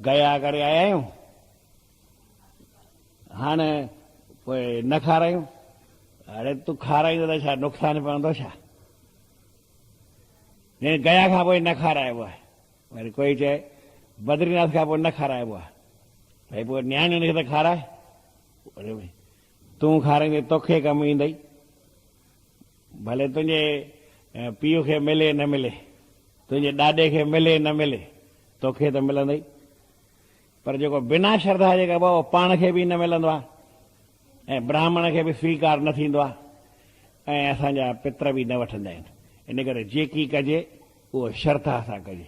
گيا ڪري آيا آهيون هاڻي پوء نه کارايون اڙي تون کارائيندو ته ڇا نقصان پوندو ڇا يعني گيا کان پوء نه کارائبو آهي وري ڪوئي چئي بدري ناٿ کان پوء نه کارائبو آهي بھي پوء نياڻين کي ته کارائي تون کاريندي توکي ڪم ايندئي، ڀلي تنهنجي پيء کي ملي نه ملي، تنهنجي ڏاڏي کي ملي نه ملي، توکي ته ملندئي. پر جيڪو بنا شرڌا جي ڪبو آهي، اهو پاڻ کي به نه ملندو آهي ۽ براهمڻ کي به سويڪار نه ٿيندو آهي ۽ اسان جا پتر به نه وٺندا آهن. ان ڪري جيڪي ڪجي، اهو شرڌا سان ڪجي.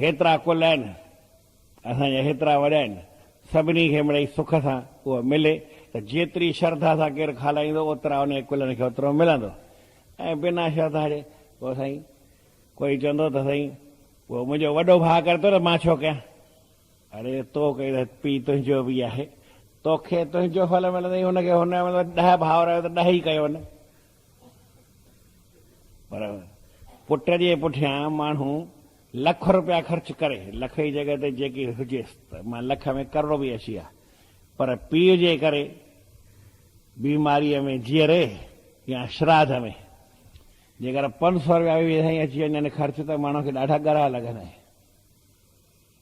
هيترا ڪل آهن، اسان جا هيترا وڏا آهن، سڀني کي مڙئي سک سان اهو ملي ته جيتري شرڌا سان ڪير کالائيندو اوترا انهي ڪلن کي اوترو ملندو ۽ بنا شرڌا جي پوء سائين ڪوئي چوندو ته سائين اهو منهنجو وڏو ڀاء ڪري ٿو ته مان ڇو ڪيان؟ اڙي تو ڪئين ته پيء تنهنجو به آهي، توکي تنهنجو ڦل ملندئي، هن کي هن جو ملندو، ڏهه ڀائر آهيو ته ڏهه ئي ڪيو نه، پر پٽ جي پٺيان ماڻهو لک روپيا خرچ ڪري، لک جي جڳهه تي جيڪي هجيس ته مان لک ۾ ڪروڙ به اچي ها، پر پيء جي ڪري بيماريء ۾ جيئري يا شراڌ ۾ جيڪر پنج سؤ روپيا به ويجهي اچي وڃن خرچ ته ماڻهوء کي ڏاڍا ڳرا لڳن ۽.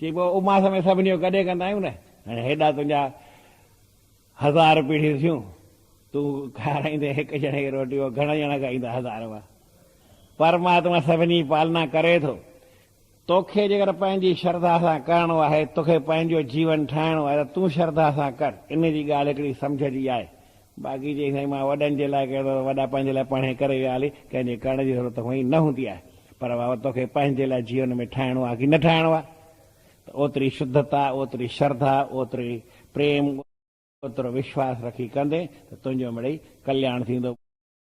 چئبو آهي اماس ۾ سڀني جو گڏي ڪندا آهيون نه، هاڻي هيڏا تنهنجا هزار پيڙهيون ٿيون، تون کارائيندين هڪ ڄڻي کي روٽي، اهو گهڻا ڄڻا کائيندا هزار مان؟ پرماتما سڀني جي پالنا ڪري ٿو. توکي جيڪر پنهنجي شرڌا سان ڪرڻو آهي، توکي پنهنجو جيون ٺاهڻو آهي ته تون شرڌا سان ڪر، ان جي ڳالهه هڪڙي سمجهه جي آهي، باقي جي سائين مان وڏن جي لاء ڪيو ته وڏا پنهنجي لاء پڙهين ڪري ويا هلي ڪنهن جي ڪرڻ جي ضرورت هونئن نه هوندي آهي پر واوء توکي پنهنجي لاء جيون ۾ ٺاهڻو آهي ڪي نه ٺاهڻو آهي ته اوتري شڌتا اوتري شرڌا اوتري پريم اوترو وشواس رکي ڪندين ته تنهنجو مڙئي ڪلياڻ ٿيندو.